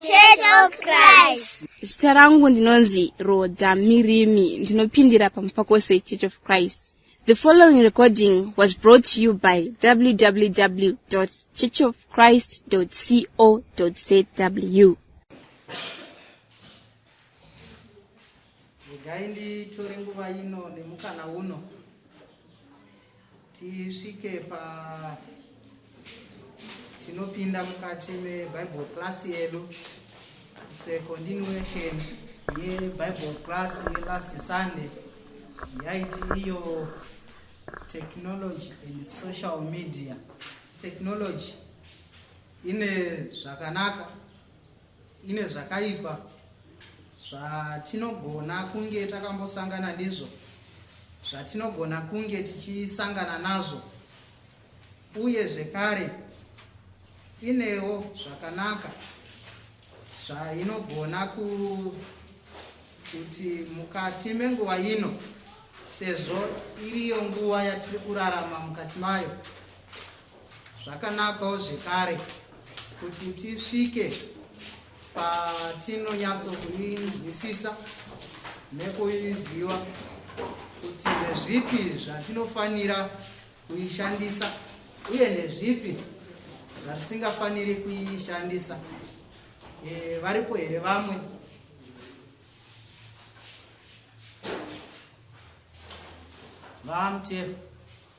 Church of Christ. Zita rangu ndinonzi Roda Mirimi ndinopindira pamupakose Church of Christ. The following recording was brought to you by www.churchofchrist.co.zw. Regai nditore nguva ino nemukana uno tisvike pa tinopinda mukati mebible class yedu its a continuation yebible class yelast sunday yaiti iyo technology and social media technology ine zvakanaka Ine zvakaipa zvatinogona kunge takambosangana ndizvo, zvatinogona kunge tichisangana nazvo, uye zvekare inewo zvakanaka zvainogona ku kuti mukati menguva ino sezvo iriyo nguva yatiri kurarama mukati mayo Zvakanakawo zvekare kuti tisvike patinonyatsokuinzwisisa nekuiziva kuti ndezvipi zvatinofanira kuishandisa uye ndezvipi zvatisingafaniri kuishandisa e, varipo here vamwe vamtero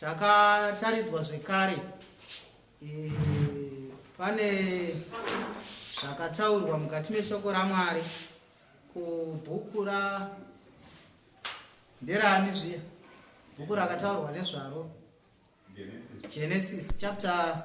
Takataridzwa zvekare e, pane zvakataurwa mukati meshoko raMwari kubhuku ra nderani zviya bhuku rakataurwa nezvaro Genesis chapter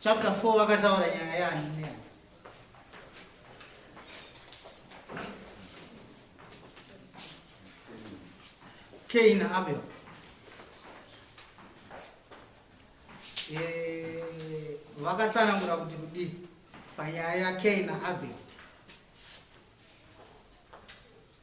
Chapter 4 vakataura nyaya yani neyani. Cain na Abel. Eh, vakatsanangura kuti kudii panyaya yaCain na Abel.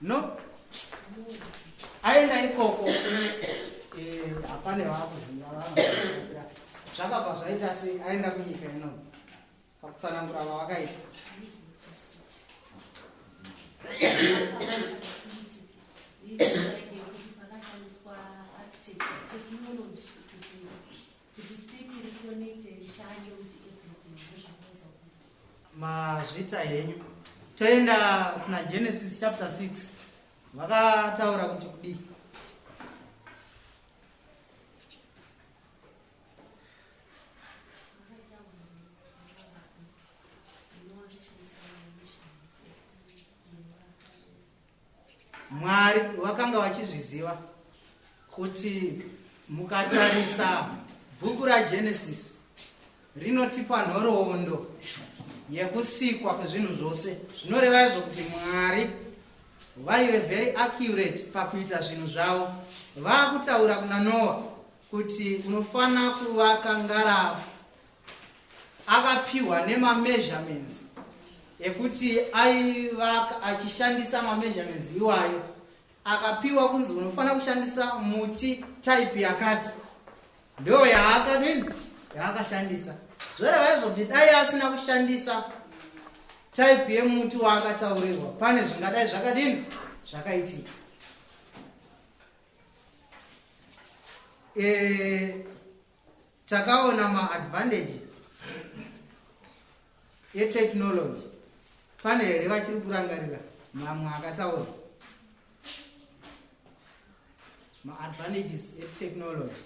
no aenda ikoko eh, hapane vakuziva vanoaira zvakabva zvaita se aenda kunyika ino pakutsanangura vavakaita kuti city reconnected ishande kuti everything ndozvakuedza kuita mazvita henyu toenda kuna genesis chapter 6 vakataura kuti kudii Mwari vakanga vachizviziva kuti mukatarisa bhuku raGenesis rinotipa nhoroondo yekusikwa kwezvinhu zvose zvinoreva izvo kuti mwari vaive very accurate pakuita zvinhu zvavo vaakutaura kuna noa kuti unofanira kuvaka ngarava akapiwa nemameasurements ekuti aivaka achishandisa mameasurements iwayo akapiwa kunzi unofanira kushandisa muti type yakati ndo yaakadini yaakashandisa zvoreva izvo kuti dai asina kushandisa type yemuti waakataurirwa pane zvingadai zvakadini zvakaitika e, takaona maadvantage etechnology pane here vachiri kurangarira mamwe akataura maadvantages etechnology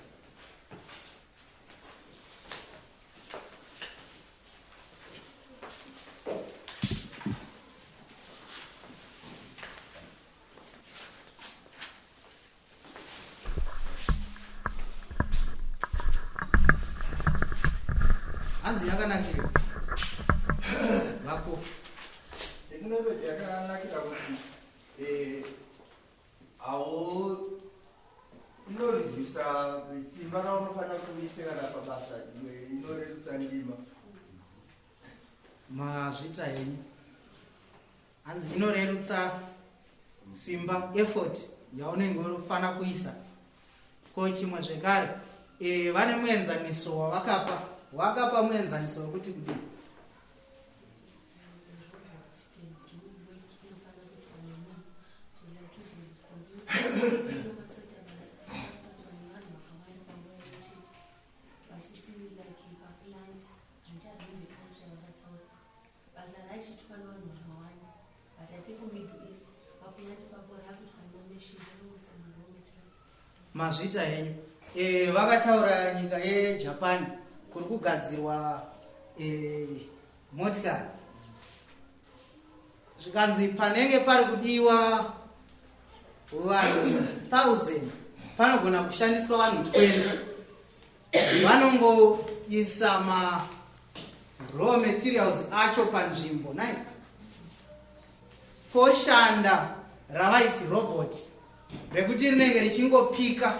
hanzi yakanakira vako teknoloji yakanakira kuti eh, awo inoredusa simba raunofanira kuise kana pabasa inoredusa ndima mazvita henyu hanzi inorerutsa simba effort yaunenge unofanira kuisa ko chimwe zvekare e, vane muenzaniso wavakapa wakapa muenzaniso wekuti kudii Basa raichitwa nevanhu vakawanda but I think middle east vakunyati kwako rakutwa nemashizha nomusamarome chaiso. Mazvita henyu. Eh vakataura nyika yeJapan kuri kugadzirwa eh motikari. Zvikanzi panenge pari kudiwa vanhu 1000 panogona kushandiswa vanhu 20 vanongoisa ma raw materials acho panzvimbo nai poshanda ravaiti robot rekuti rinenge richingopika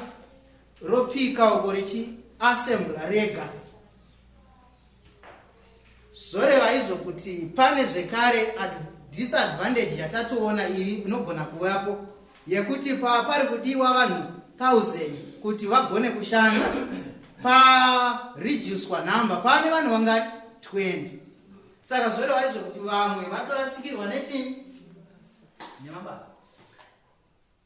ropika uko richiassembla rega zvoreva izvo kuti pane zvekare disadvantage yatatoona iri inogona kuvapo yekuti pava pari kudiwa vanhu 1000 kuti vagone kushanda pareducwa number pane vanhu vanga 20 saka zvoreva izvo kuti vamwe vatorasikirwa nechii nemabasa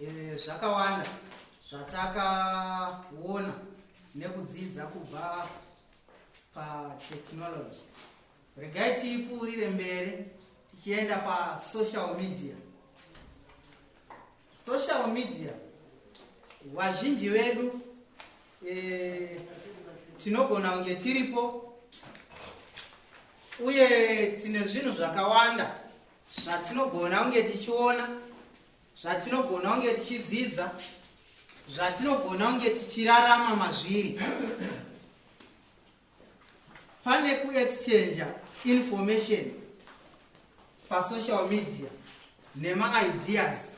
Eh, zvakawanda zvatakaona nekudzidza kubva patechnology regai tiipfuurire mberi tichienda pasocial media Social media vazhinji vedu eh, tinogona kunge tiripo uye tine zvinhu zvakawanda zvatinogona kunge tichiona zvatinogona kunge tichidzidza zvatinogona kunge tichirarama mazviri pane kuexchange information pasocial media nemaideas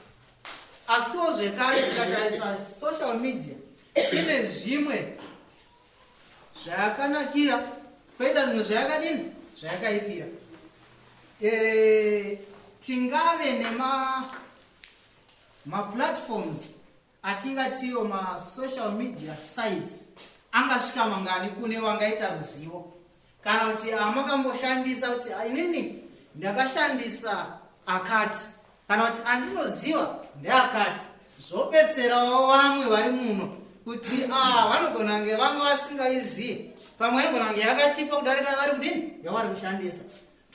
asiwo zvekare tikatarisa social media ine zvimwe zvayakanakira kwoita zvimwe zvayakadini zvayakaipira e, tingave nemaplatforms ma atingatiwo masocial media sites angasvika mangani kune vangaita ruzivo kana kuti amakamboshandisa kuti inini ndakashandisa akati kana kuti andinoziva ndeakati zvobetserawo vamwe vari muno kuti ah, vanogona kunge vanga vasingaizivi pamwe anogona kunge yakachipa kudarika vari kudini yavari kushandisa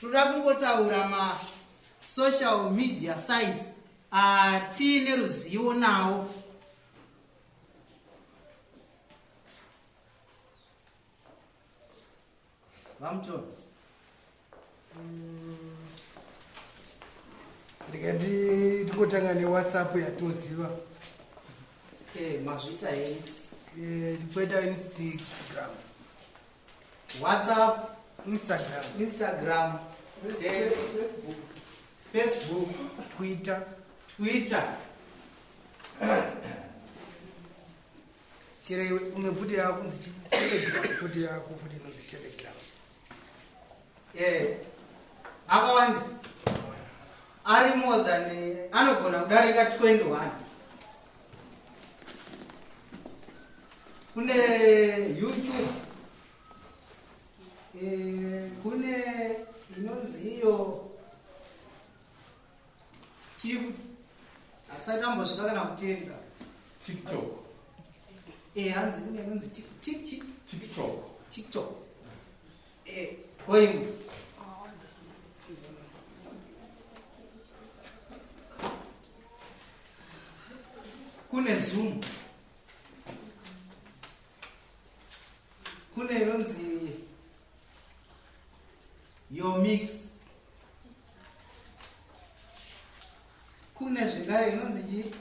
tinoda kungotaura masocial media sites Ah, tiine ruzivo nawo vamutoro ndikati tikotanga newhatsapp yatoziva eh, mazvita hei eh, tipoita instagram WhatsApp, Instagram, Instagram, Facebook, Facebook, Twitter, Twitter. Chero une bvute yako nzichi telegram bvute yako futi inonzi telegram. Eh, akawandisa ari more than eh, anogona kudarika 21 kune youtube eh, kune inonzi iyo chief asati ambosvika kana kutenga tiktok eh hanzi kune inonzi tik tik tik tiktok tiktok Koimwe. Kune Zoom. Kune inonzi your mix. Kune zvingare inonzi chii?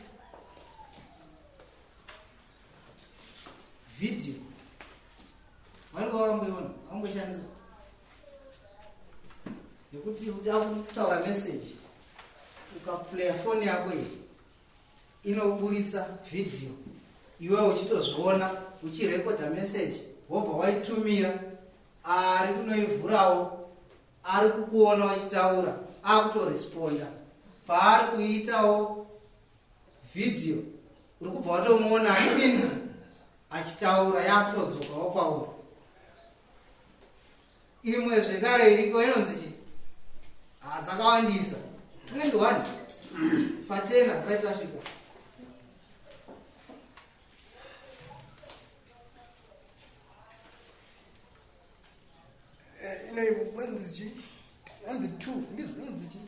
Video. Vari wavamboiona, vamboishandisa. Nekuti uda kutaura message ukaplaya foni yako iyi inoburitsa video iwe uchitozviona uchirekodha message wobva waitumira ari kunoivhurawo ari kukuona wachitaura akutoresponda paari kuitawo Video uri kubva watomuona achidini achitaura yakutodzokawo kwauri. Imwe zvekare iriko inonzi chii? Ah, dzakawandisa. 21 patena dzisati tasvika. Eh, inoivo kwanzi chii? Anzi 2 ndizvo inonzi chii?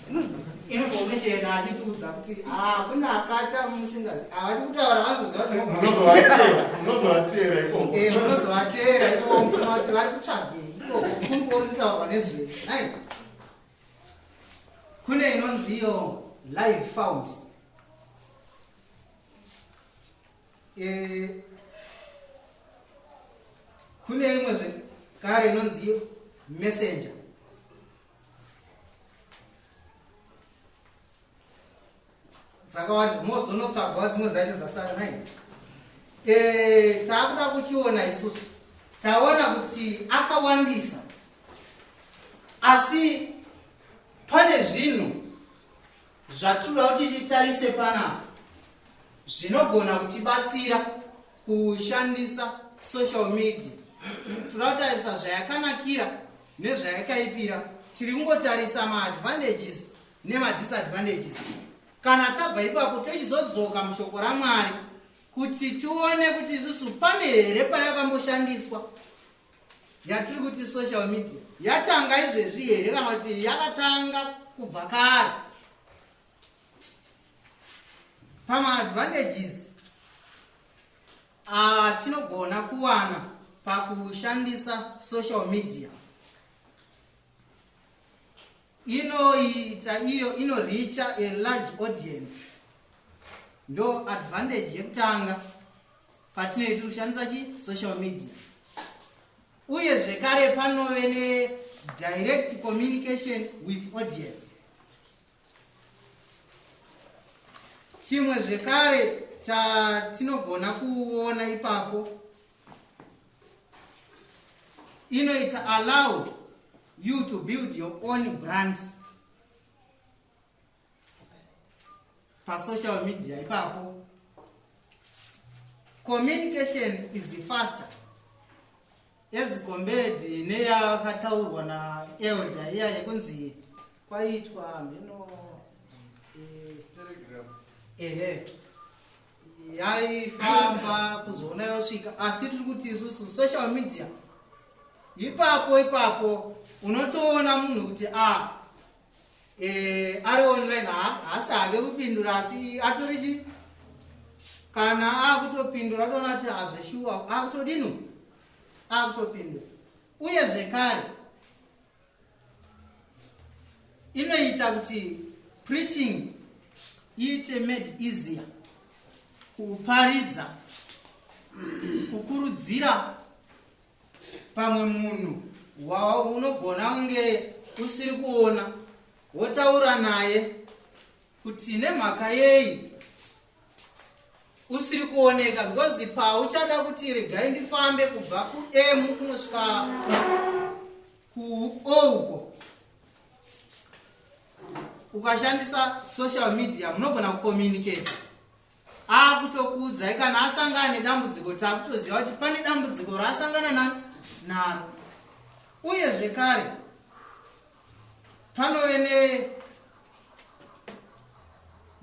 information achitiudza kuti ah, kune akata musingazi avari ah, kutaura vanozoziva kutovateera ikoko eh, vanozovateera ikoko mukona kuti vari kutsvagei ikoko kungori kutaurwa nezvei ai kune inonzi iyo live found eh, kune imwe zvekare inonzi iyo messenger dzakawanda mozonotsvagwa dzimwe dzacho dzasara nai eh, taakuda kuchiona isusu taona kuti akawandisa asi pane zvinhu zvatinoda kuti titarise panapa zvinogona kutibatsira kushandisa social media toda kutarisa zvayakanakira nezvayakaipira tiri kungotarisa maadvantages nemadisadvantages kana tabva ipapo tochizodzoka mushoko ramwari kuti tione kuti isusu pane here payakamboshandiswa yatiri kuti social media yatanga izvezvi here kana kuti yakatanga kubva kare pamaadvantages atinogona ah, kuwana pakushandisa social media inoita iyo inoricha a large audience ndo advantage yekutanga patinoiti kushandisa chi social media uye zvekare panove nedirect communication with audience chimwe zvekare chatinogona kuona ipapo inoita allow you to build your own brand pasocial media ipapo communication is faster As compared neyakataurwa naelder iya yekunzi kwaitwa mheno ehe yaifamba kuzoona yosvika asi tiri kuti isusu social media ipapo ipapo unotoona munhu kuti a ah, eh, ari online haasi hake kupindura asi atori chi kana akutopindura atoona kuti hazveshuwa akutodino akutopindura uye zvekare inoita kuti preaching iite made easier kuparidza kukurudzira pamwe munhu waunogona kunge usiri kuona wotaura naye kuti nemhaka yei usiri kuoneka because pauchada kuti regai ndifambe kubva kuam kunosvika kuo uko ukashandisa social media munogona kucommunicate akutokuudzai kana asangana nedambudziko takutoziva kuti pane dambudziko raasangana na naro uye zvekare panove ne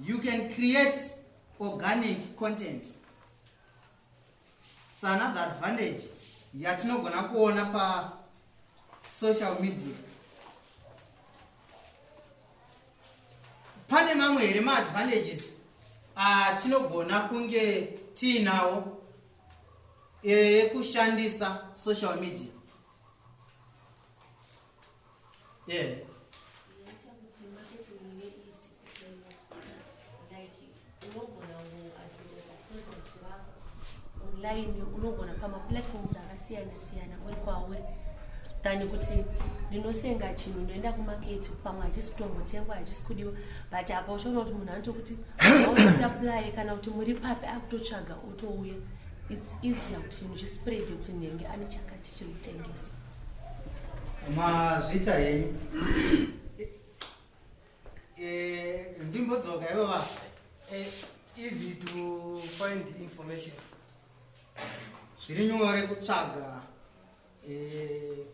you can create organic content so another advantage yatinogona kuona pa social media pane mamwe here maadvantages atinogona kunge tiinawo ekushandisa social media yeah. online unogona pamaplatforms akasiyana siyana uri kwauri than kuti ndinosenga chinhu ndoenda kumaketi pamwe hachisi kutombotengwa hachisi kudiwa but apa uchaona kuti munhu anotokuti ausaplye kana kuti muri papi akutotsvaga otouya its easier kuti chinhu chispread kuti ndenge ane chakati chiri kutengeswa Mazvita henyu. Eh, ndimbodzoka ivo va. Eh, easy to find information. Zviri nyore kutsvaga eh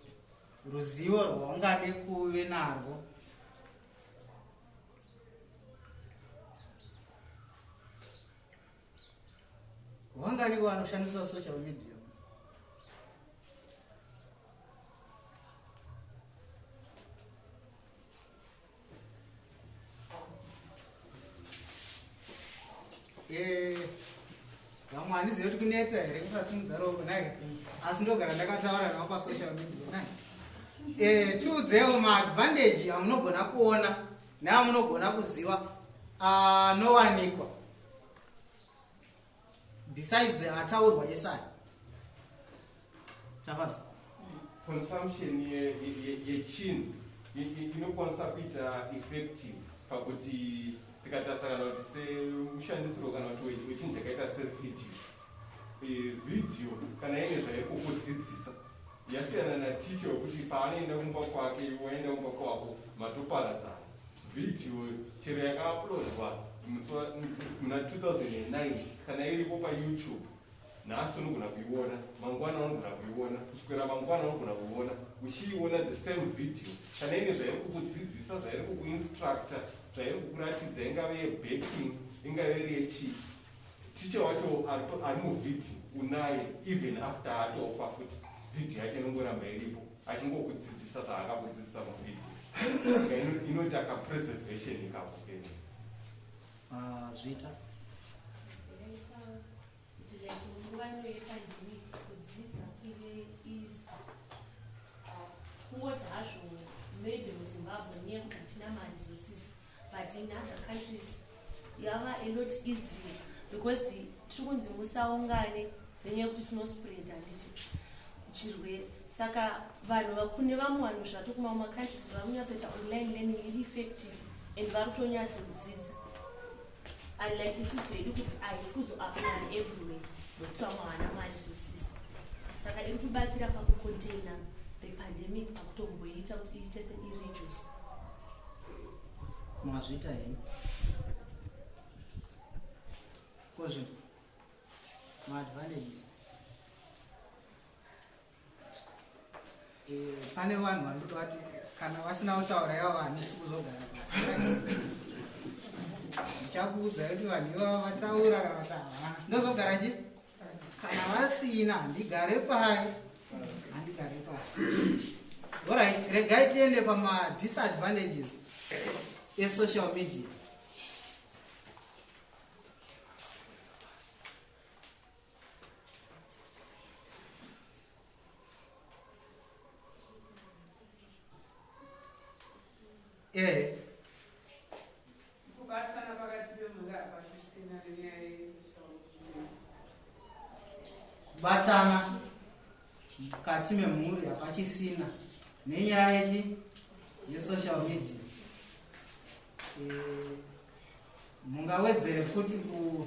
ruzivo rwaungade kuve narwo. Wangani wanoshandisa social media? Eh, vamwe handizive kuti kunetsa here kusasimudza ropa nai asi ndogara ndakataura navo pasocial media nai eh, tiudzewo maadvantage amunogona kuona neamunogona kuziva anowanikwa ah, besides ataurwa esai tafadzwa consumption yechinhu ye, ye, ye inokwanisa kuita effective pakuti tikatarisa kana kuti semushandisiro kana kuti wechinhu chakaita sevideo e, video kana ine zvaikukudzidzisa yasiyana naticha wekuti paanoenda kumba kwake waenda kumba kwako matoparadzana Video chero yakauploadwa musi wa- m- muna 2009 kana iripo payoutube nhasi unogona kuiona mangwana unogona kuiona kusvikira mangwana unogona kuiona uchiiona the same video kana ine zvairi kukudzidzisa zvairi kukuinstructa zvairi kukuratidza ingave yebaking ingave iri yechii ticha wacho ari pa- ari muvhidhi unaye even after atofa futi vhidhi yacho inongoramba iripo achingokudzidzisa zvaakakudzidzisa muvideo inoita ka preservation ikako kene ah, zviita kungoti hazvo maybe muzimbabwe nekuti hatina mari zosisa but in other countries yava a lot easier because tiri kunzi musaungane nenyaya yekuti tinospreada handiti chirwere saka vanhu vakune vamwe vanhu zvati kumamwe makandisi vari kunyatsoita online learning iri effective and vari kutonyatsodzidza unlike isusu hedu kuti ahisi kuzoapply everywhere nokuti vamwe havana mari zosisi saka iri kubatsira pakucontaina the pandemic pakutomboiita kuti iite seirijoso Mazvita hii. Kozvi. Ma advantages. Eh, pane vanhu vanoto vati kana vasina kutaura yavo hanisi kuzogara pasi. Ndichakuudza kuti vanhu ivavo vataura kana kuti havana. Ndozogara chii? kana vasina handigare pai handigare pasi orit regai tiende pamadisadvantages esocial media e Kubatana pakati pemhuri hapasisina nenyaya yesocial media. Kubatana mukati memhuri hapachisina nenyaya yechi yesocial media eh, mungawedzere futi ku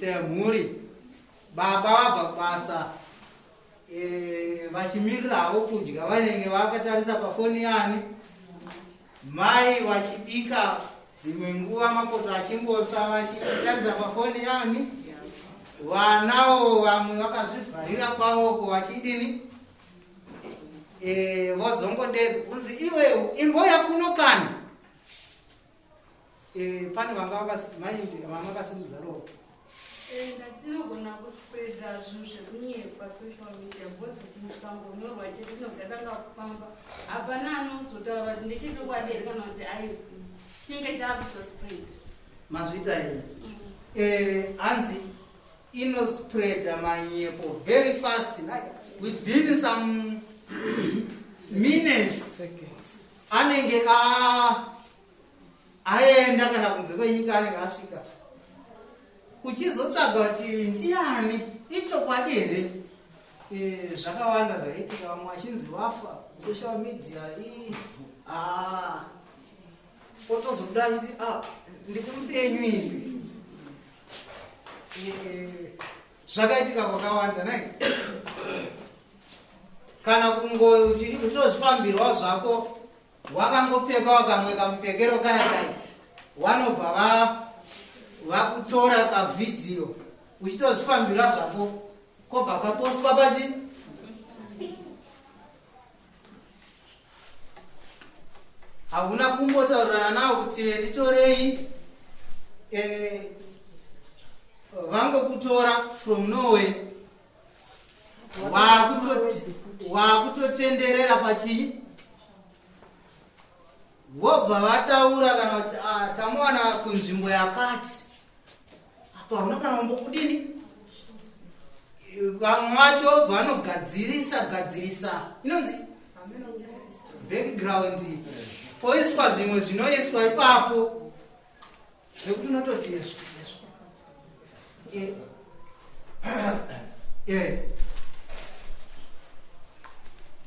semhuri baba vabva kubasa eh, vachimirirawo kudya vanenge vakatarisa pafoni yani mai vachibika dzimwe nguva makoto achimbotsva vachitarisa pafoni yani vanawo vamwe vakazvivharira kwavoko vachidini eh, vozongodedza kunzi iwe imboya kuno kani Eh, pane vanga vakasimaindi vanga vakasimudza ropa eh, ndatinogona kuspreda zvinhu zvekunyepa social media bcause tikangonyorwa chete tinogatanga kufamba hapana anozotaura kuti ndechechokwadi here kana kuti ai chinenge chaakutospread mazvita ii mm. eh, hanzi inospreda manyepo very fast within some minutes anenge aenda kana kunze kwenyika anenge asvika uchizotsvaga kuti ndiani ichokwadi here eh, zvakawanda zvaitika vamwe vachinzi vafa social media ii ah. otozoda kuti ah, ndikumupenyu ipi eh, zvakaitika kwakawanda nai kana kungotozvifambirwa zvako wakangopfekawo kamwe kamupfekero kaya kai wanobva va vakutora kavhidhiyo uchitozvifambira zvako kobva kapostwa pachi hauna kumbotaurirana nawo kuti nditorei eh, vangokutora from norway waakutotenderera pachii vobva vataura kana kuti ah, tamuwana kunzvimbo yakati apo hauna kana kumbokudini vamwe vacho vanogadzirisa gadzirisa inonzi background poiswa zvimwe zvinoiswa ipapo zvekuti unototi yesu yesu eh. eh.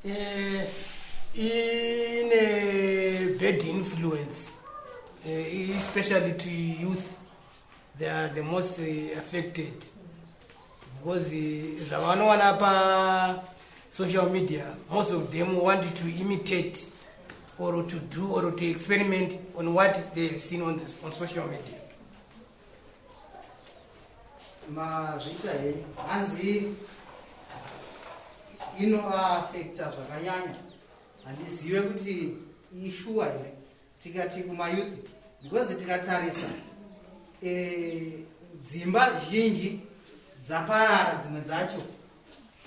eh. ine bad influence especially to youth they are the most affected because zvavanowana pa social media most of them want to imitate or to do or to experiment on what they have seen on, this, on social media mazviita henyu hanzi inovaafekta zvakanyanya handizive kuti ishuwa here tikati kumayouth because tikatarisa eh, dzimba e, zhinji dzaparara dzimwe dzacho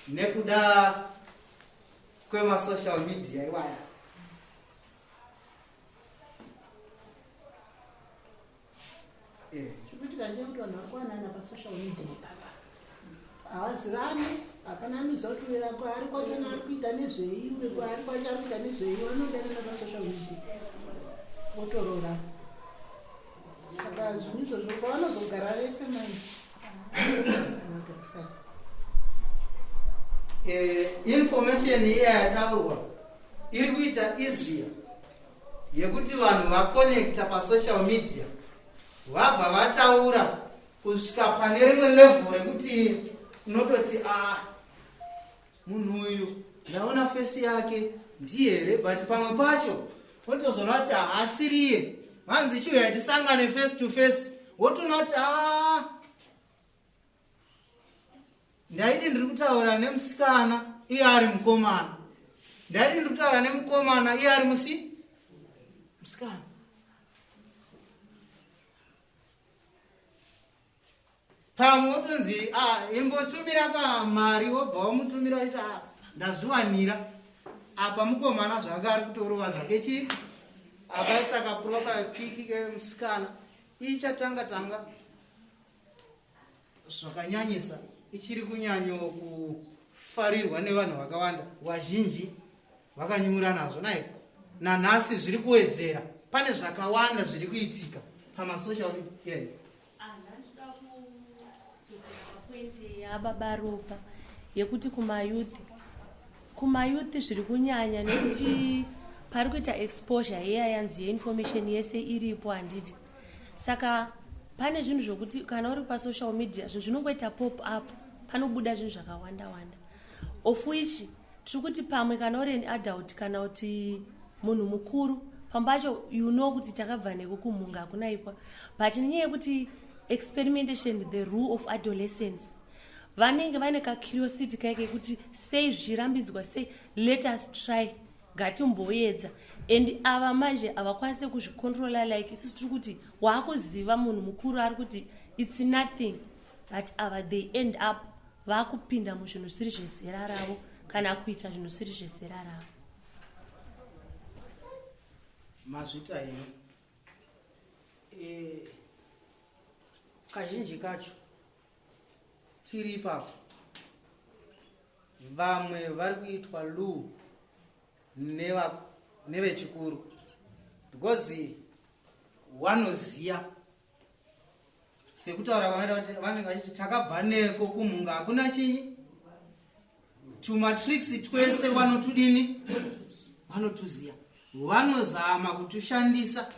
nekuda kwemasocial media iwaya Eh. Chikuitika ndeye kuti vanhu vakuwanana pasocial media papa havazivani hapana anoziva kuti uyo ako ari kwacho naari kuita nezvei uyo ari kwacho ari kuita nezvei vanodanana pasocial media votoroora saka zvinhu izvozvo kwavanozogara vese mai eh, information iya yataurwa iri kuita easier yekuti vanhu vakonekta pasocial media vabva vataura kusvika pane rimwe level rekuti unototi a ah, munhu uyu ndaona fesi yake ndiye here but pamwe pacho wotozoona kuti haasiriye vanzi chiuya tisangane face to face wotoona kuti a ah, ndaiti ndiri kutaura nemusikana iye ari mukomana ndaiti ndiri kutaura nemukomana iye ari musi musikana pamwe wotonzi ah, imbotumira kamari wobva wamutumira waiti ah, ndazviwanira apa mukomana zvake ari kutorova zvake chii akaisa kaprofile piki kemusikana ichatanga tanga, tanga. zvakanyanyisa ichiri kunyanyo kufarirwa nevanhu vakawanda vazhinji vakanyura nazvo nai nanhasi zviri kuwedzera pane zvakawanda zviri kuitika pamasocial media yababa ropa yekuti kumayouth kumayouth zviri kunyanya nekuti pari kuita exposure yeya yanzi yeinformation yese iripo handiti saka pane zvinhu zvokuti kana uri pasocial media zvinhu zvinongoita pop up panobuda zvinhu zvakawanda wanda of which tiri kuti pamwe kana uri an adult kana kuti munhu mukuru pamba acho you know kuti takabva neko kumhunga hakuna ikwa but nenyaya yekuti experimentation the rule of adolescence vanenge vaine kacuriosity kaike kuti sei zvichirambidzwa sei let us try ngatimboyedza and ava manje havakwanise kuzvicontrola like isusu tiri kuti waakuziva munhu mukuru ari kuti its nothing but ava they end up vakupinda muzvinhu zvisiri zvezera ravo kana kuita zvinhu zvisiri zvezera ravo mazvita ino e, kazhinji kacho tiri ipapo vamwe vari kuitwa lu nevechikuru because wanoziya sekutaura vanenge vachiti takabva neko kumhunga hakuna chii tumatricks twese vanotudini vanotuziya vanozama kutushandisa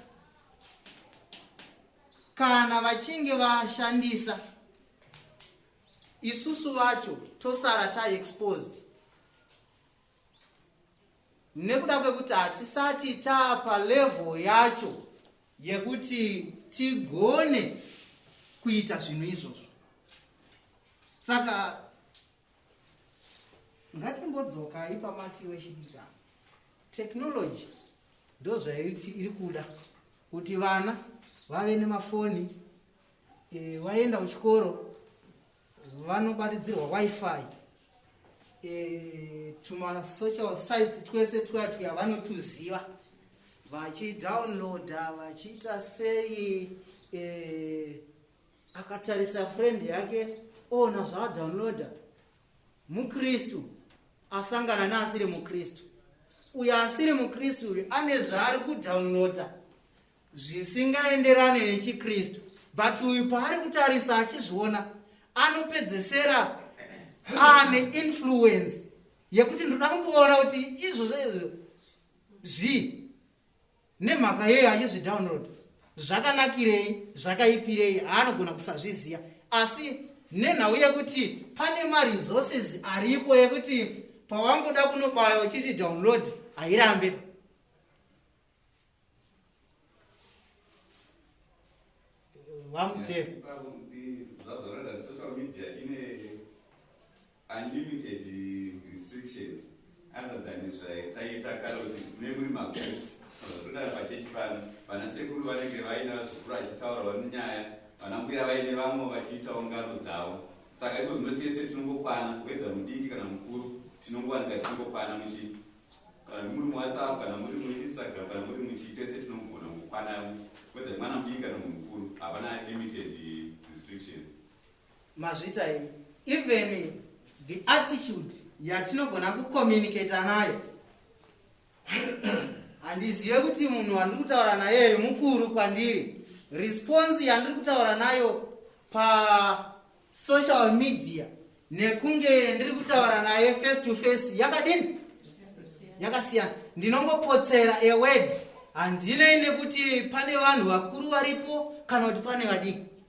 kana vachinge vashandisa isusu vacho tosara taexposed nekuda kwekuti hatisati taapa level yacho yekuti tigone kuita zvinhu izvozvo saka ngatimbodzokai pamati iwe chidika technology ndozvaiti iri kuda kuti vana vave nemafoni e, eh, vaenda kuchikoro vanobatidzirwa wifi e, eh, tumasocial sites twese tuya tuya vanotuziva vachidownloada vachiita sei e, akatarisa friend yake oona zvaadownloada mukristu asangana neasiri mukristu uyo asiri mukristu uyu ane zvaari kudownloada zvisingaenderane nechikristu but uyu paari kutarisa achizviona anopedzesera ane influence yekuti ndoda kumboona kuti izvozvo izvo zvii nemhaka yeye achizvidownload zvakanakirei zvakaipirei haanogona kusazviziva asi nenhau yekuti pane maresources aripo yekuti pawangoda kunobaya uchiti download hairambe vamutero yeah. unlimited restrictions other than zvataiita kare kuti nemuri magroups zvatotaura pachechi pano vana sekuru vanenge vaina vazukuru vachitaurawo nenyaya vana mbuya vaine vamwe vachiitawo ngano dzavo saka iko zvino tese tinongokwana kuedza mudiki kana mukuru tinongowanika tichingokwana muchi kana muri muwhatsapp kana muri muinstagram kana muri muchi tese tinogona kukwana kuedza mwana mudiki kana munhu mukuru havana limited restrictions mazvita imi even the attitude yatinogona kucommunicata nayo handizive kuti munhu wandiri kutaura nayeyo mukuru kwandiri response yandiri kutaura nayo pasocial media nekunge ndiri kutaura naye face to face yakadini yakasiyana ndinongopotsera aword handinei nekuti pane vanhu vakuru varipo kana kuti pane vadiki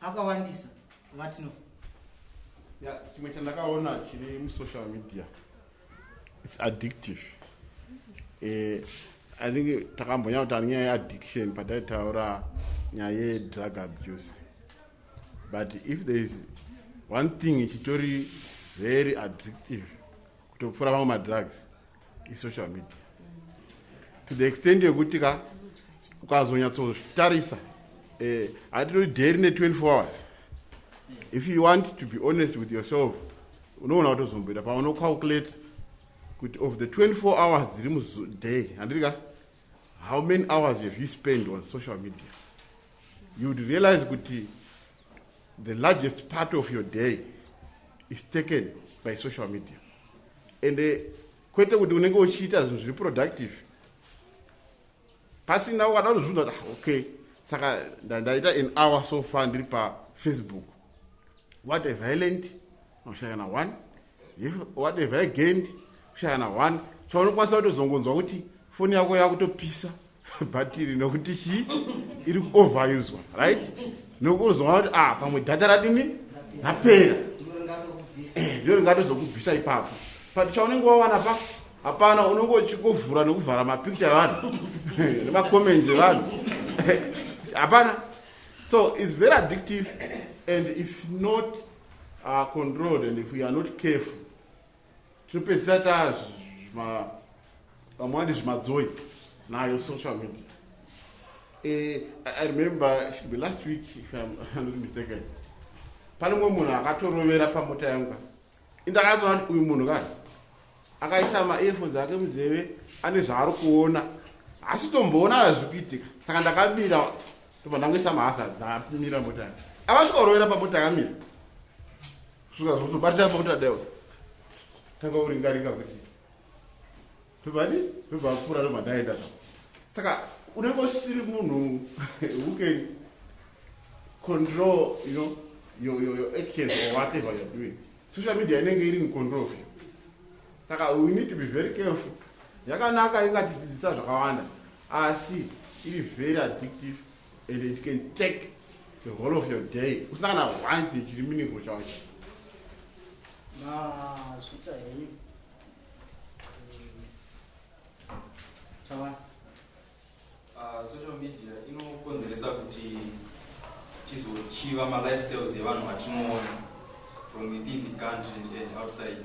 akawandisa vatino ya chimwe chandakaona chiri musocial media its addictive eh, i think takambonya kuti anyaya yeaddiction pataitaura nyaya yedrug abuse but if there is one thing ichitori very addictive kutopfuura vamwe madrugs isocial media to the extent yekuti ka ukazonyatsotarisa eh, hatitoti day rine 24 hours if you want to be honest with yourself unoona kutozomboita paunocalculate kuti of the 24 hours dziri muday handiti ka how many hours have you spend on social media you would realize kuti The largest part of your day is taken by social media and uh, kwete kuti unenge uchiita zvinhu zviri productive pasina ukada kuzvibvunza kuti ah, okay saka ndaita an hour so far ndiri pafacebook what a violent unoshaya na one if whatever i gained ushaya na one chaunokwanisa kutozongonzwa kuti foni yako yakutopisa bhatiri nokuti chii iri kuoveruswa right nokuzoona kuti ah pamwe dhata radini rapera eh, ndiro ringatozokubvisa ipapo but chaunenge wawana pa hapana unenge uchikovhura nekuvhara mapicture evanhu nemacomment evanhu hapana so its very addictive and if not are controlled and if we are not careful tinopedzisa taa vamwe vandi zvimadzoi nayo social media eh, i remember be last week if i'm not mistaken pane mumwe munhu akatorovera pamota yangu indakazoona kuti uyu munhu kani akaisa maearphones ake munzeve ane zvaari kuona asi tomboona zviri kuitika saka ndakamira Ndipo ndangoisa mahazard ndamira mota yake. Akasvika kurovera pamota yakamira. Kusvika zvozobatira pamota deo. Tanga uringaringa kuti tobadi tobva apfuura tobva ndaenda zva. Saka unenge usiri munhu who can control you know your, your, your actions or whatever you're doing. Social media inenge iri in control of you. Saka we need to be very careful. Yakanaka ingatidzidzisa zvakawanda. asi iri very addictive and it can take the whole of your day usina kana one thing chiri meaningful chacho mazvita henyu tawani ah, social media inokonzeresa kuti tizochiva malifestyles evanhu vatinoona from within the country and outside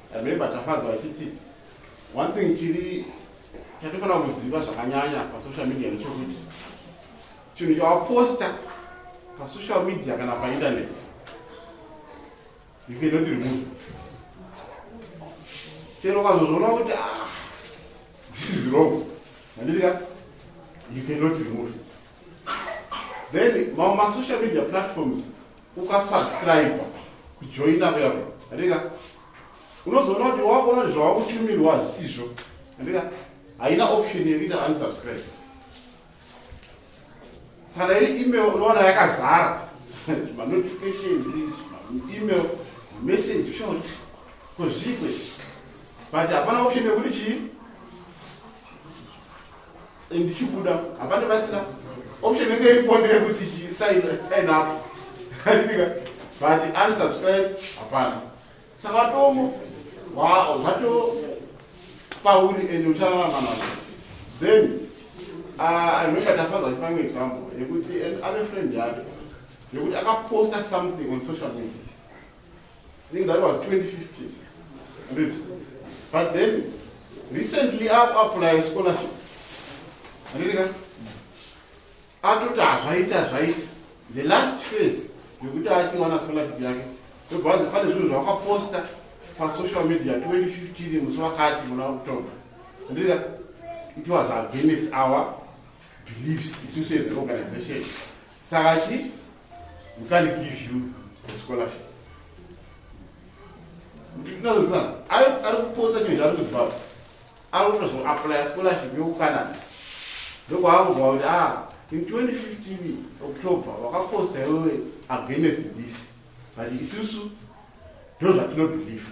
Remember Tafadzwa achiti one thing chiri chatofanira kuziva zvakanyanya pasocial media ndechokuti chinhu chawaposta pasocial media kana painternet you cannot remove chero ukazozviona kuti ah, this is wrong mandirika you cannot remove then mamwe masocial media platforms ukasubscribe kujoina kuya andika unozoona kuti wakuona kuti zvawakutumirwa hazisizvo andika haina option yekuita unsubscribe kana iri email unoona yakazara manotifications email message uchaona kozvikwe but hapana option yekuti chii ndichibuda hapana pasina option inge iripondere kuti sign up adinika but unsubscribe hapana saka watomo zvato pauri and uchararama nazvo then ah, i remember tafadza chipamwe example yekuti ave friend yake yekuti akaposta something on social media think that was 2015 read but then recently aku apply scholarship andidika atoti hazvaita hazvaita the last phase yekuti achiwana scholarship yake ndobvanzi pane zvinhu zvawakaposta pasocial media 2015 musi wakati muna october andidika it was against our beliefs isu seorganization Saka chi we can't give you a scholarship. Ndinozana ari ari kupotsa nyozi ari kuZimbabwe. Ari kutozo apply scholarship yokuCanada. Ndokwaakuziva kuti ah in 2015 October wakaposta iwewe against this but isusu ndozvatinobhilivha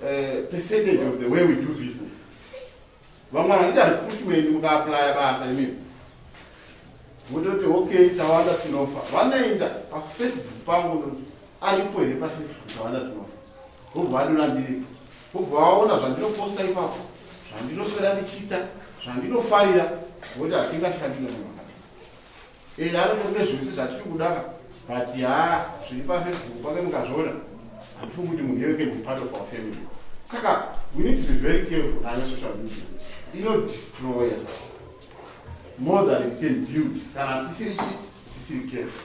Eh, percentage of the way we do business vamwe vanoti ari push weni mukaaplya basa imimi vototi okay tawanda tinofa vanoenda pafacebook pangu aripo here pafacebook tawanda tinofa vobva vadona ndiripo vobva vaona zvandinoposta ipapo zvandinoswera ndichiita zvandinofarira voti hatingashandire munhu Eh, ari kune zvese zvatiri kudaka but yaa zviri pafacebook pake mukazviona handifungi kuti munhu yeke ndi part of our family saka we need to be very careful nayo social media inodestroya more than it can build kana tisiri chii tisiri careful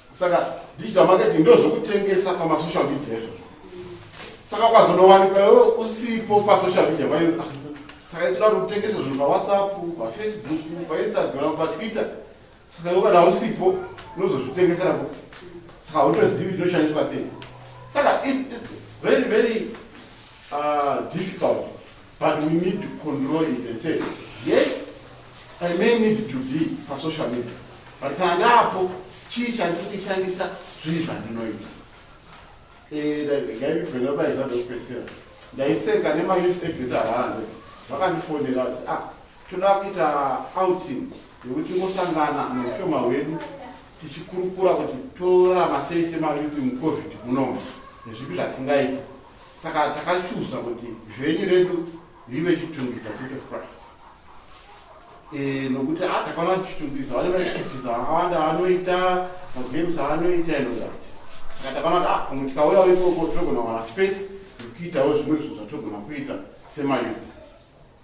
saka digital marketing ndozvekutengesa pamasocial media izvozvo saka ukazonowanikwa iwe usipo pasocial media vai ah, saka itoda kuti utengese zvinhu pawhatsapp pafacebook painstagram patwitter saka iwe kana usipo unozozvitengesera po saka utozivi tinoshandiswa sei saka very very uh, difficult But we need to control it and say, yes, I may need to be for social media. But pandapo, chii chandiri kuishandisa zvii zvandinoita. Eh, ndaivhena paita ndokupedzisira. Ndaiseka nemayouth event avanze. Vakandifonera kuti, ah, toda kuita outing yekuti tingosangana neushoma hwedu tichikurukura kuti torarama sei semayouth mucovid munomu nezvipi zvatingaita. saka takachuza kuti zvenyu redu rive chitungisa chete christ eh, nokuti ah, takaona chitungisa vane vachitungisa vakawanda vanoita magames avanoita inozati saka takaona kuti ah, pamwe tikauyawo ikoko tinogona kuwana space yekuitawo zvimwe zvinhu zvatogona kuita semayuti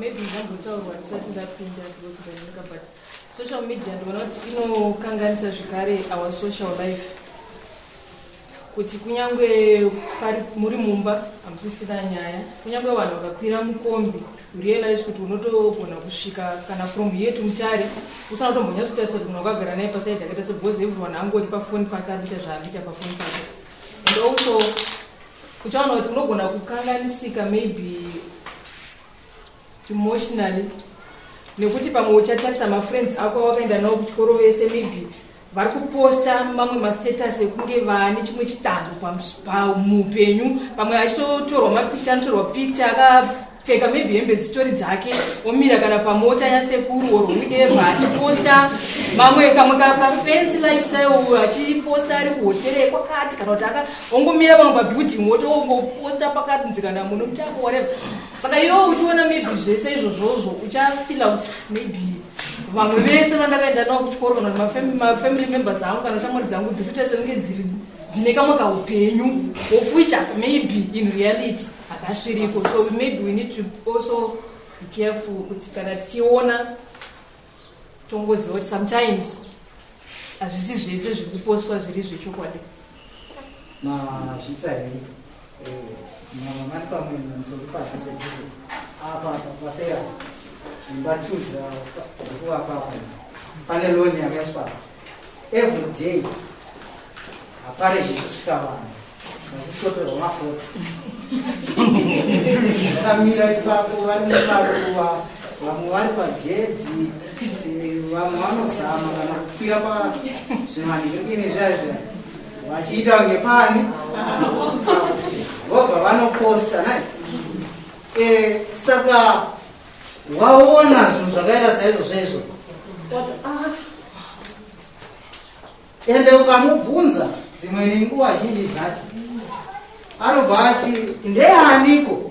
maybe ndambotaurwa ndisati ndapinda because ndanyika but social media ndinoona kuti inokanganisa zvekare our social life kuti kunyange muri mumba hamusisina nyaya kunyange vanhu vakakwira mukombi realize kuti unotogona kusvika kana from here to mutare usana kutombonyatsotarisa kuti munhu wakagara naye paside akaita se because everyone angori pafoni pake ari kuita zvaanoita pafoni pake and also uchaona kuti unogona kukanganisika maybe emotionally nekuti pamwe uchatarisa mafriends ako awakaenda nawo kuchikoro vese maybe vari kuposta mamwe mastatus ekunge vane chimwe chidanho pamuupenyu pamwe achitotorwa mapicha anotorwa picha akapfeka maybe hembe zitori dzake omira kana pamota yasekuru or whoever achiposta mamwe kamwe kafency lifestyle achiposta ari kuhotere kwakati kana kuti akaongomira pamwe pabuilding wotoongoposta pakati nzikana muno muchako whatever saka iwo uchiona maybe zvese izvozvozvo uchafila kuti maybe vamwe vese vandakaenda navo kuchikoro kana kuti mafamily members angu kana shamwari dzangu dziri kuita senenge dziri dzine kamwe kaupenyu of which maybe in reality hakasviriko so maybe we need to also be careful kuti kana tichiona tongoziva kuti sometimes hazvisi zvese zviri kuposwa zviri zvechokwadi mazvita here mati pamwe nanisokupaha sekuse apa paseya imba two dzakuvapapa pane loni yakaiswa every day hapare zvekusvika vanhu vachisikotorwa mafoto vakamira ipapo vari mumaruva vamwe vari pagedhi vamwe vanozama kana kukwira pazvimanhingine zvazva vachiita kunge pani vobva vanoposta na e, saka waona zvinhu zvakaita saizvo zvaizvo oti a ah. ende ukamubvunza dzimwe nenguva zhinji dzacho anobva ati ndeaniko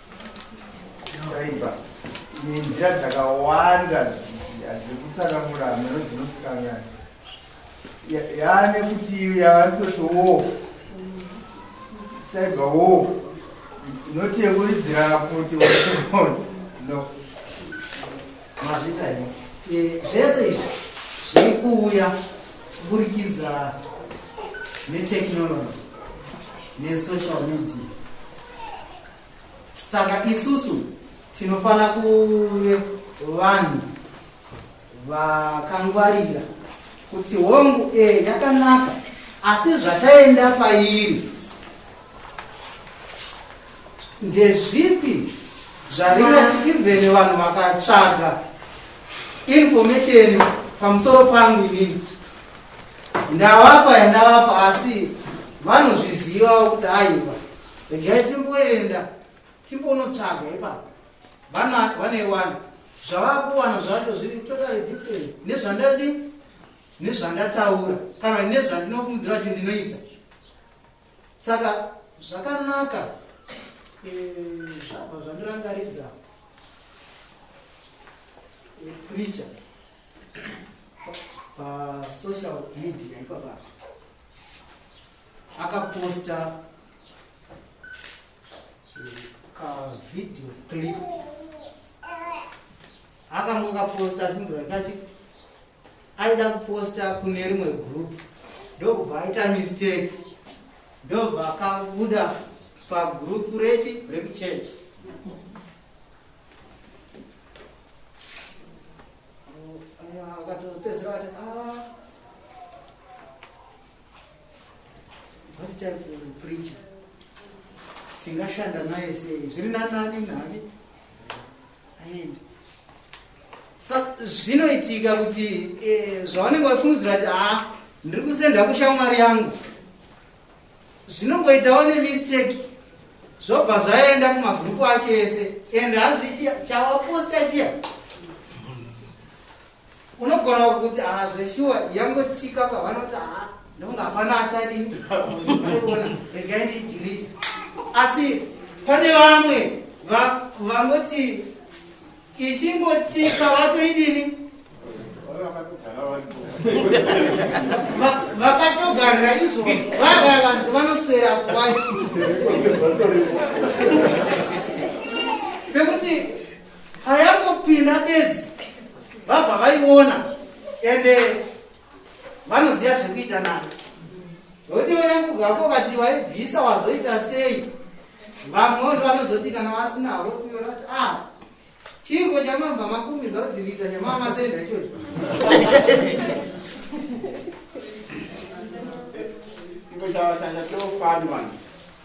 Saiba, nenzira dzakawanda dzekutsanangura hameno dzinosikangana yaane kuti yavanototi wo saiba wo inoti yekuridzira kuti waona no mazvita ino eh, zvese izvi zviri kuuya kuburikidza netechnology nesocial media saka isusu tinofanira kuve vanhu vakangwarira kuti hongu e yakanaka asi zvataenda pairi ndezvipi zvaringati even vanhu vakatsvaga information pamusoro pangu inini ndavapa yandavapa asi vanozvizivawo kuti aiwa regai timboenda timbonotsvaga ipapo vana vaneiwana zvavakuwana zvacho zviri totally different nezvandadi nezvandataura kana nezvandinofungidzira kuti ndinoita saka zvakanaka eh, zvabva zvandirangaridza eh, preacher pasocial media ipapaa akaposta kavideo clip akange kaposta achinzira kati aida kuposta kune rimwe group ndokubva aita mistake ndobva akabuda pagroup rechi rekuchurch akatopedzera kati ah, tingashanda naye sei zviri nanani nani aende zvinoitika kuti eh, zvavanenge vafungidzira kuti ha ah, ndiri kusenda kushamwari yangu zvinongoitawo nemistake zvobva zvaenda kumagrupu ake ese and hanzi chawaposta chiya unogona kuti haa zveshuwa yangotsika pavanoti haa ndonga hapana atadii ona regai ndiidirite asi pane vamwe vanoti ichingotsika vatoidini vakatogarira izvo vagara vanzi vanoswera kwai pekuti payangopinda bedzi vabva vaiona ende vanoziva zvekuita nani nekuti vayakugako vati vaibvisa wazoita sei vamwe vanhu vanozoti kana vasina vokuona kuti a ah, chiiko chamabva makumidza kudzivita chamaa masenda ichocho iko chava changa chofanwa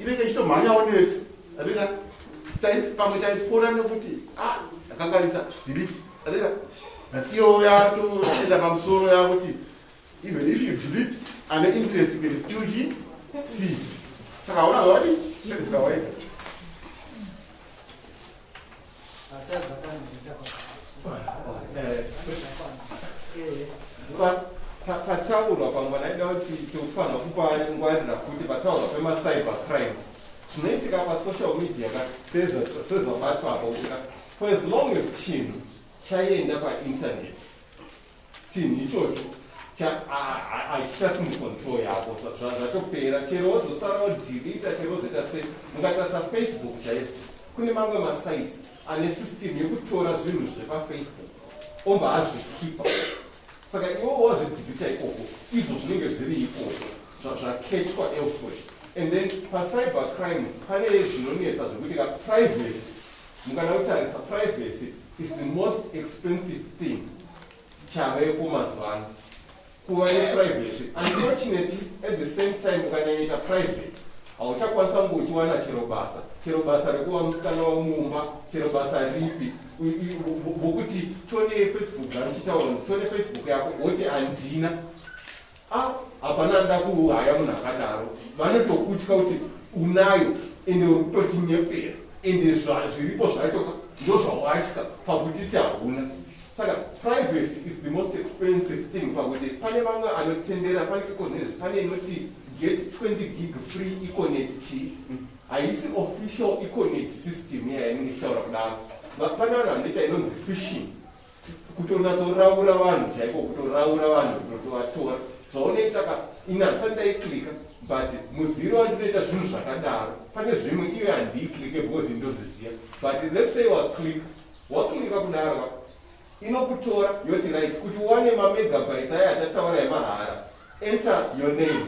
inenge ichitomhanyawo nesu atika pamwe taipfuura nekuti ah, akanganisa delete atika but iyo yatoenda pamusoro yakuti even if you delete ane interest can still g c saka hauna zvawadi zvawadi pataurwa pamwe naida kuti tikufanira kupangwarira futi pataurwa pemacyber crimes zvinoitika pasocial media ka sezvabatwa apo ka for as long as chinhu chaienda painternet chinhu ichocho hachichasimi control yako zvatopera chero wozosara wodirita chero wozoita sei mukaita safacebook chaiyo kune mamwe masites ane system yekutora zvinhu zvepafacebook omba azvikipa saka iwo wazvidhibita ikoko izvo zvinenge zviri ikoko zvaketchwa elsewhere and then pacyber crime pane zvinonetsa zvekuti ka privacy mukada kutarisa privacy is the most expensive thing chaveko mazuva ano kuva neprivacy unfortunately at the same time ukanyanyaita private hauchakwanisa kunge uchiwana chero basa chero basa rekuva musikana wamumba chero basa ripi vokuti tone facebook zvamuchitaura tone facebook yako woti handina Ah, hapana anoda kuhaya munhu akadaro vanotokutya kuti unayo ende uri kutotinyepera ende zviripo zvacho ndozvawatya pakuti ti hauna saka privacy is the most expensive thing pakuti pane vamwe anotendera pane ikoneti pane inoti get 20 gig free ikoneti chii haisi official ikoneti system iya yainenge ichitaura kudaro pane vanhu vanoita inonzi fishing kutonatsoraura vanhu chaiko kutoraura vanhu kutovatora zvaonoita ka ini handisati ndaiklika but muziro wandinoita zvinhu zvakadaro pane zvimwe iye handiiklike because ndozviziva but let's say waklika waklika kudaro inokutora yoti right kuti uwane mamegabytes aya atataura emahara Enter your name.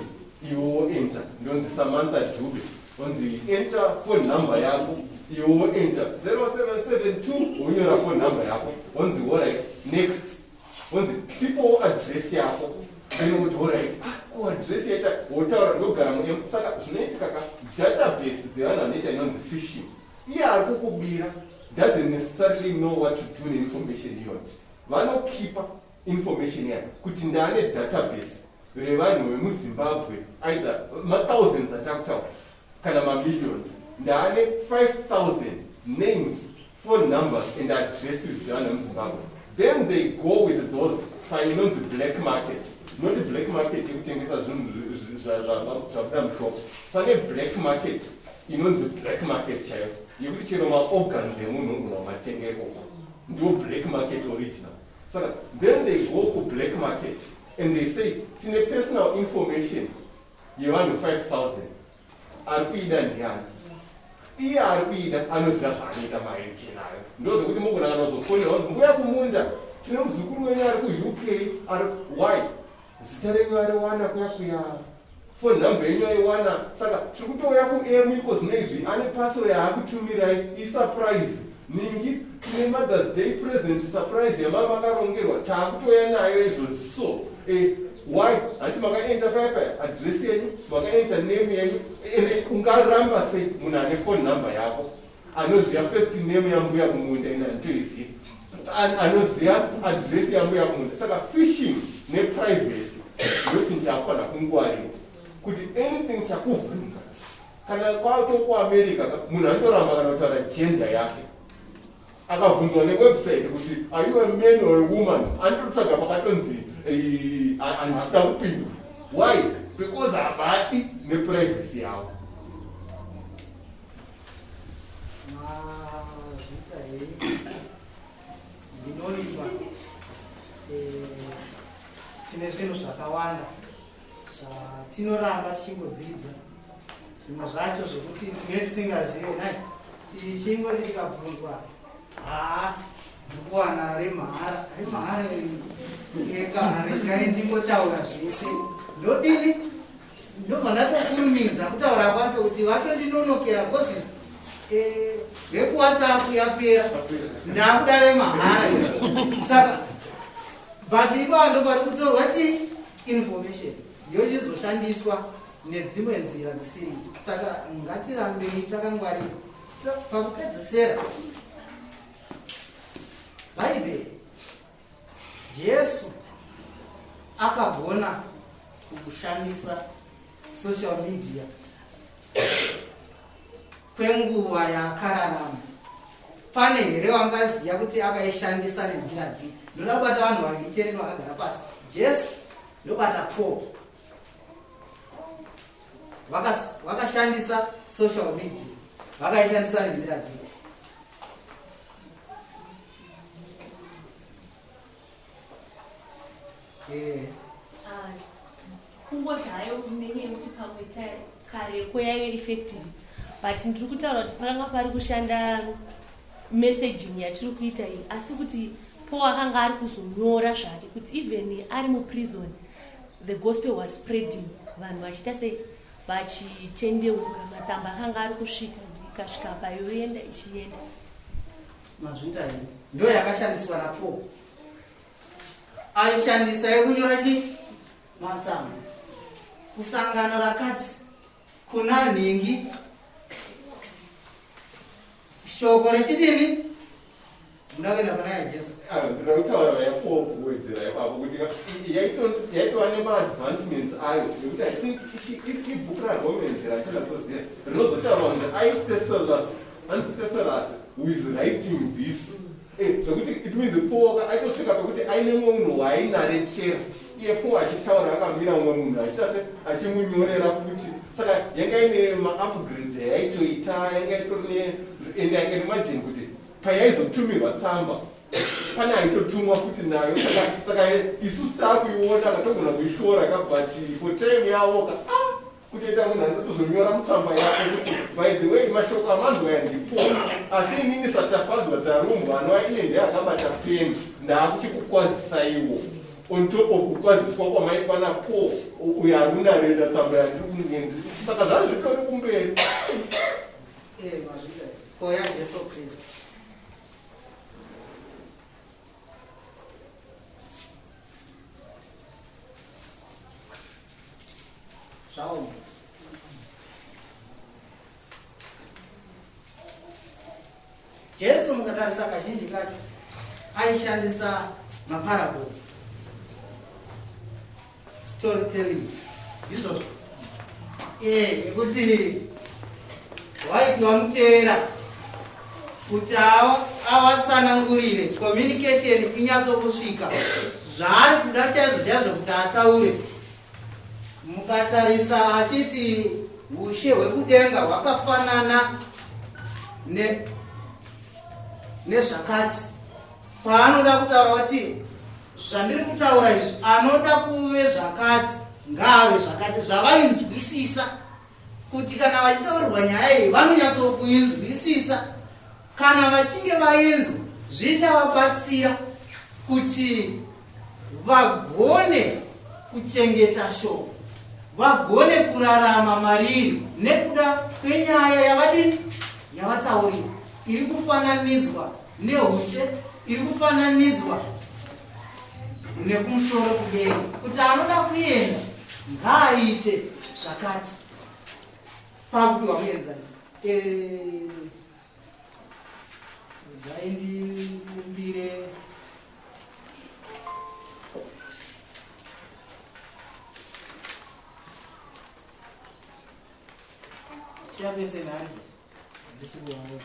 Iwo enter. Ndonzi Samantha Dube. Onzi enter phone number yako. Iwo enter. 0772 unyora phone number yako. Onzi all right. Next. Onzi tipo address yako. Then kuti all right. Ah, ko address yaita wotaura ndogara mu M. Saka zvinoitika ka database dzevanhu vanoita inonzi phishing. Iye ari kukubira doesn't necessarily know what to do neinformation iyoyo. Vanokipa information yayo kuti ndane database revanhu vemuzimbabwe either mathousands atakutaura kana mamillions ndane 5000 names phone numbers and addresses dzevanhu vemuzimbabwe then they go with those painonzi black market not black market yekutengesa zvinhu zvabuda mushop pane black market inonzi black market chaiyo yekuti chero maorgans emunhu unogona kumatengekoko ndiwo black market original Saka then they go ku black market and they say tine personal information yevanhu 5000 ari kuida ndiani iye ari kuida anoziva zvaanoita maeke nayo ndozvekuti mukunanga nozofonerwa mbuya kumunda tine muzukuru wenyu ari kuuk ari why zita renyu ariwana kuya kuyaa Phone number yenyu aiwana saka tiri kutouya kuemu iko zvino izvi ane parcel yaakutumirai isurprise ningi tine mothers day present surprise yamava vakarongerwa taakutoya nayo izvozvi so eh, why handi makaenta faya paya adress yenyu makaenta name yenyu ende ungaramba sei munhu ane phone number yako anoziva first name yambuya kumunda ini handitoizivi anoziva adress yambuya kumunda saka fishing neprivacy ndoti ndafana kungwarira kuti anything chakubvunza kana kwatokuamerica munhu anoramba kana kutaura jenda yake akabvunzwa newebsite kuti are you a man or a woman andotsvaga pakatonzi handida kupindura why because havadi neprivacy yavo ndinoimba eh, tine zvinhu zvakawanda zvatinoramba tichingodzidza zvimwe zvacho zvokuti tinge tisingazive nai tichingo tikabvunzwa haa ndikuwana remahara remahara ekahara kai ndingotaura zvese ndodini ndobva ndatokurumidza kutaura kwacho kuti vatondinonokera bcause eh, vekuwhatsapp yapera ndakuda remahara saka but ipava ndopari kutorwa chi information yochizoshandiswa nedzimwe nzira dzisiri idzo saka ngatirambei takangwarira pakupedzisera bhaibheri Jesu akagona kushandisa social media kwenguva yaakararama pane here wangaziva kuti akaishandisa nenzira dzii ndoda kubata vanhu vaviri chete vakagara pasi jesu ndobata po vakashandisa social media vakaishandisa nenzira dzii kungoti hayo kunenyaya yekuti pamwe kareko yaive effective but ndiri kutaura kuti pakanga pari kushanda messaging yatiri kuita iyi asi kuti po akanga ari kuzonyora zvake kuti even ari muprison the gospel was spreading vanhu vachiita sei vachitendeuka matsamba akanga ari kusvika ikasvika payoenda ichienda Mazvita iyi ndo yakashandiswa na Paul. Aishandisa yekunyora chi matsamba. Kusangano rakati kuna nhingi shoko rechidini muda kuenda pana yajesu ndoda kutaura yapoa kuwedzera ipapo kuti yaitova nemaadvancements ayo nekuti i think ibhuku raromenzera atinatsoziva rinozotaura kuti aiteselas Hanzi Teserasi who is writing this. Eh, zvekuti it means pooka aitosvika pekuti aine mumwe munhu waainaretera iye po achitaura akamira mumwe munhu achita se achimunyorera futi saka yanga ine maupgrades yaitoita yanga itori ne and i can imagine kuti payaizotumirwa tsamba pane aitotumwa futi nayo saka isusu taakuiona katogona kuishora kabati for time yaoka ah! kutoita munhu anotozonyora mutsamba yako kuti by the way mashoko amanzwa yandipo asi inini satafadzwa tarumbwa anova iye ndiye akabata peni ndaakuchikukwazisaiwo on top of kukwaziswa kwamaitwa napo uyo aruna reda tsamba yandiri kunyendi saka zvani zvitori kumberi eh, koya jesu kristu Shalom. Jesu mukatarisa kazhinji kacho aishandisa maparables storytelling ndizvozvo ee nekuti waiti wamuteera kuti awatsanangurire communication inyatsokusvika zvaari kuda chaizvo chaizvo kuti ataure mukatarisa achiti ushe hwekudenga hwakafanana nezvakati paanoda kutaura kuti zvandiri kutaura izvi anoda kuve zvakati ngaave zvakati zvavainzwisisa kuti kana vachitaurirwa nyaya iyi vanonyatsokuinzwisisa kana vachinge vainzwa zvichavabatsira kuti vagone kuchengeta shoko vagone kurarama mariri nekuda kwenyaya yavadini yavataurira iri kufananidzwa neushe iri kufananidzwa nekumusoro kudenga kuti anoda kuenda ngaaite zvakati pakupiwa muenzanisa dai ndikumbire chapese nani ndisikuwaona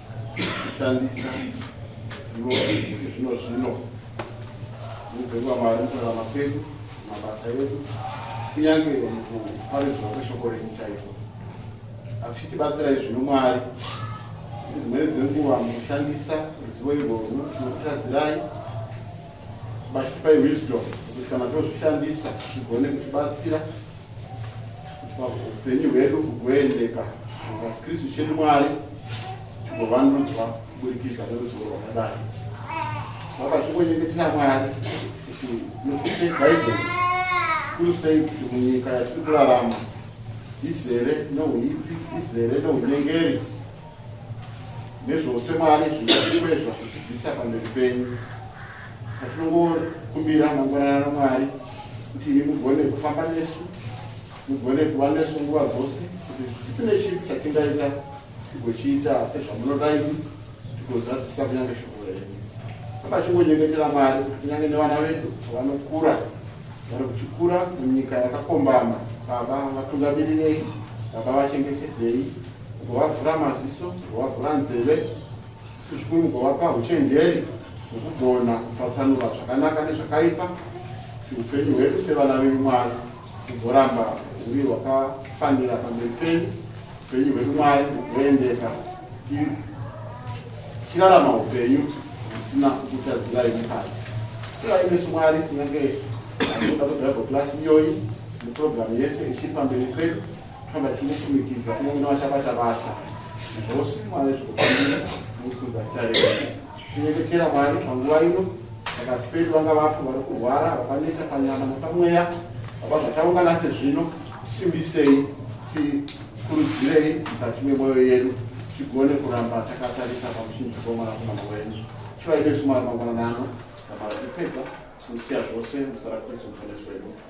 kushandisa zivo rekuti zvino zvino mubve kwamari mukurarama kwedu mabasa edu kunyange mukuparidzwa kweshoko renyu chaiko asi chitibatsirai zvino mwari dzimweni dzenguva mukushandisa ruzivo irworwo tinokutadzirai bachitipai wisdom kuti kana tozvishandisa tigone kutibatsira upenyu hwedu kugoendeka vakristu chedu mwari tigovandudzwa kuburikidza neruzivo rwakadai vaka chingonyengetera mwari kuti nokuse guidance kuri sei kuti munyika yatiri kurarama izere nouipi izere nounyengeri nezvose mwari zvinokwezva kutibvisa pamberi penyu atinongokumbira mangwanana namwari kuti imi mugone kufamba nesu mugone kuva nesu nguva dzose kuti tine chii chatingaita tigochiita sezvamunoda imi tigozadzisa kunyange shoko renyu apachingonyengetera mwari kuti kunyange nevana vedu vanokura vari kuchikura munyika yakakombama baba vatugabirirei baba vachengetedzei Kugovavhura maziso, kugovavhura nzeve, asi zvikuru kugovapa uchenjeri hwekugona kupatsanura zvakanaka nezvakaipa, kuti upenyu hwedu sevana vemwari hugoramba huri hwakafanira pamberi penyu, upenyu hwedu mwari hugoendeka tichirarama upenyu husina kukutadzirai mukati. Kurai nesu mwari kunyange anoda kudhaiva klasi iyoyi neprogiramu yese ichiri pamberi pedu Kana tinokumikidza kunyange navachabata basa zvose Mwari zvikufanira nokukuza zita renyu. Tinyengetera Mwari panguva ino pakati pedu vanga vapo vari kurwara vakaneta panyama nepamweya vaba zvataungana sezvino simbisei tikurudzirei mukati memwoyo yedu tigone kuramba takatarisa pamuchinjiko wemwanakomana wenyu chivai nesu mwari mangwananano namara tipedza kusiya zvose musara kristu muponesi wedu